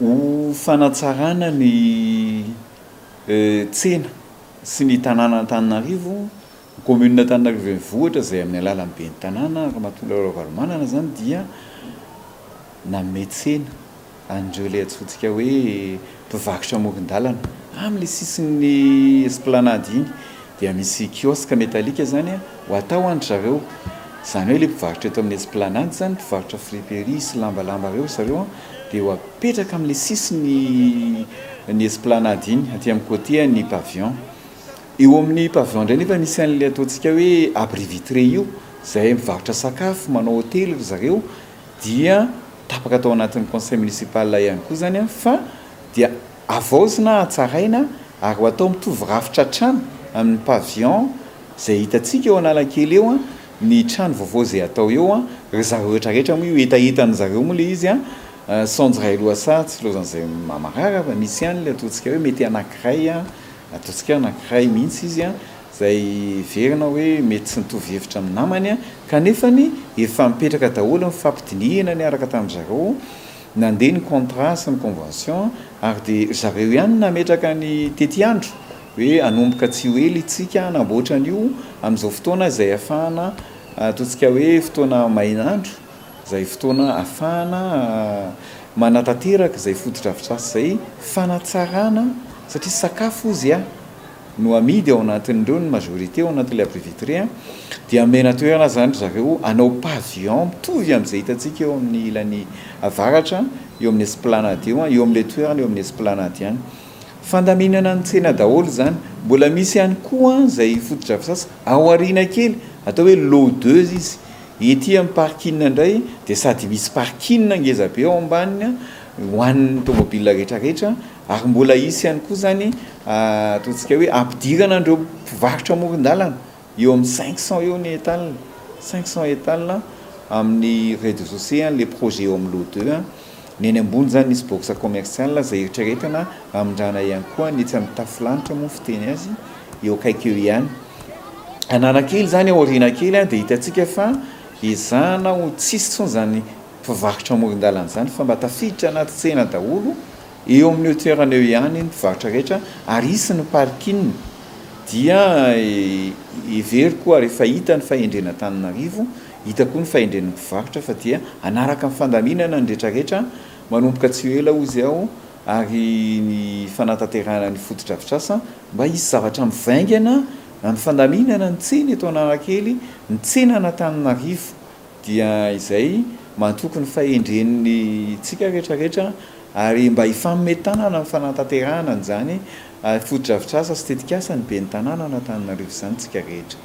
Ho fanatsarana ny tsena sy ny tanàna Antananarivo, ny Kaominina Antananarivo Renivohitra izay amin'ny alalan'ny Ben'ny tanàna, Ramatoa Laura Ravalomanana izany dia nanome tsena an'ireo ilay antsointsika hoe mpivarotra amoron-dalana, amin'ilay sisin'ny esplanade iny. Dia misy kiosque metallique zany ho atao an-dry zareo. Zany hoe le mpivarotra eto amin'ny Esplanade zany, mpivarotra friperie sy lambalamba reo ry zareo an, dia ho apetraka amin'le sisiny ny Esplanade iny, aty amin'ny côté ny pavillon. Eo amin'ny pavillon indray nefa misy an'le ataontsika hoe abri vitré io, zay mivarotra sakafo, manao hotely ry zareo, dia tapaka tao anatin'ny conseil municipal ihany koa zany an, fa dia. Havaozina, hatsaraina ary ho atao mitovy rafitra hatrany amin'ny pavillon izay hitantsika eo Analakely eo ny trano vaovao izay hatao eo. Ry zareo rehetra rehetra moa io hetahetan'ny zareo moa ilay izy. Saonjo iray lohasaha tsy ilaozan'izay mamarara fa misy ihany ilay ataontsika hoe mety anankiray, ataontsika hoe anankiray mihitsy izy izay heverina hoe mety tsy nitovy hevitra amin'ny namany kanefany efa mipetraka daholo ny fampidinihina niaraka tamin-dry zareo. Nandeha ny contrat sy ny convention ary dia ry zareo ihany no nametraka ny tetiandro hoe hanomboka tsy ho ela itsika hanamboatra an'io amin'izao fotoana izay hafahana ataontsika hoe fotoana main'andro izay fotoana hafahana manatanteraka izay fotodrafitrasa izay fanatsarana satria sakafo hozy aho no amidy ao anatin'ireo ny majorité ao anatin'ilay abri vitré a, dia amena toerana zany ry zareo hanao pavillon mitovy amin'izay hitantsika eo amin'ny ilany avaratra eo amin'ny esplanade eo an, eo amin'ilay toerana eo amin'ny esplanade ihany. Fandaminana ny tsena daholo izany. Mbola misy ihany koa izay fotodrafitrasa ao aoriana kely, atao hoe lot deux izy, ety amin'ny parking indray dia sady misy parking ngeza be ao ambaniny ho an'ny tomobil rehetra rehetra ary mbola hisy ihany koa izany ataontsika hoe ampidirana an'ireo mpivarotra amoron-dalana eo amin'ny cinq cent eo ny etale cinq cent etale amin'ny rez-de-chaussée an'ilay projet eo amin'ny lot deux ny any ambony izany misy box commercial izay eritreretina hamindrana ihany koa ny etsy amin'ny tafo lanitra moa ny fiteny azy eo akaiky eo ihany Analakely izany aoriana kely dia hitantsika fa ezahana ho tsisy intsony izany mpivarotra amoron-dalana izany fa mba tafiditra anaty tsena daholo eo amin'io toerana eo ihany ny mpivarotra rehetra ary hisy ny parking dia heveriko ary efa hita ny fahendren'Antananarivo hita koa ny fahendren'ny mpivarotra fa dia hanaraka ny fandaminana ny retraretra manomboka tsy ho ela hozy aho ary ny fanatanterahana ny fotodrafitrasa mba hisy zavatra mivaingana amin'ny fandaminana ny tsena eto Analakely ny tsenan'Antananarivo dia izay matoky ny fahendren'ny tsika rehetra rehetra ary mba hifanome tanana amin'ny fanantanterahana an'izany fotodrafitrasa sy tetikasa ny Ben'ny Tanàna an'Antananarivo izany tsika rehetra.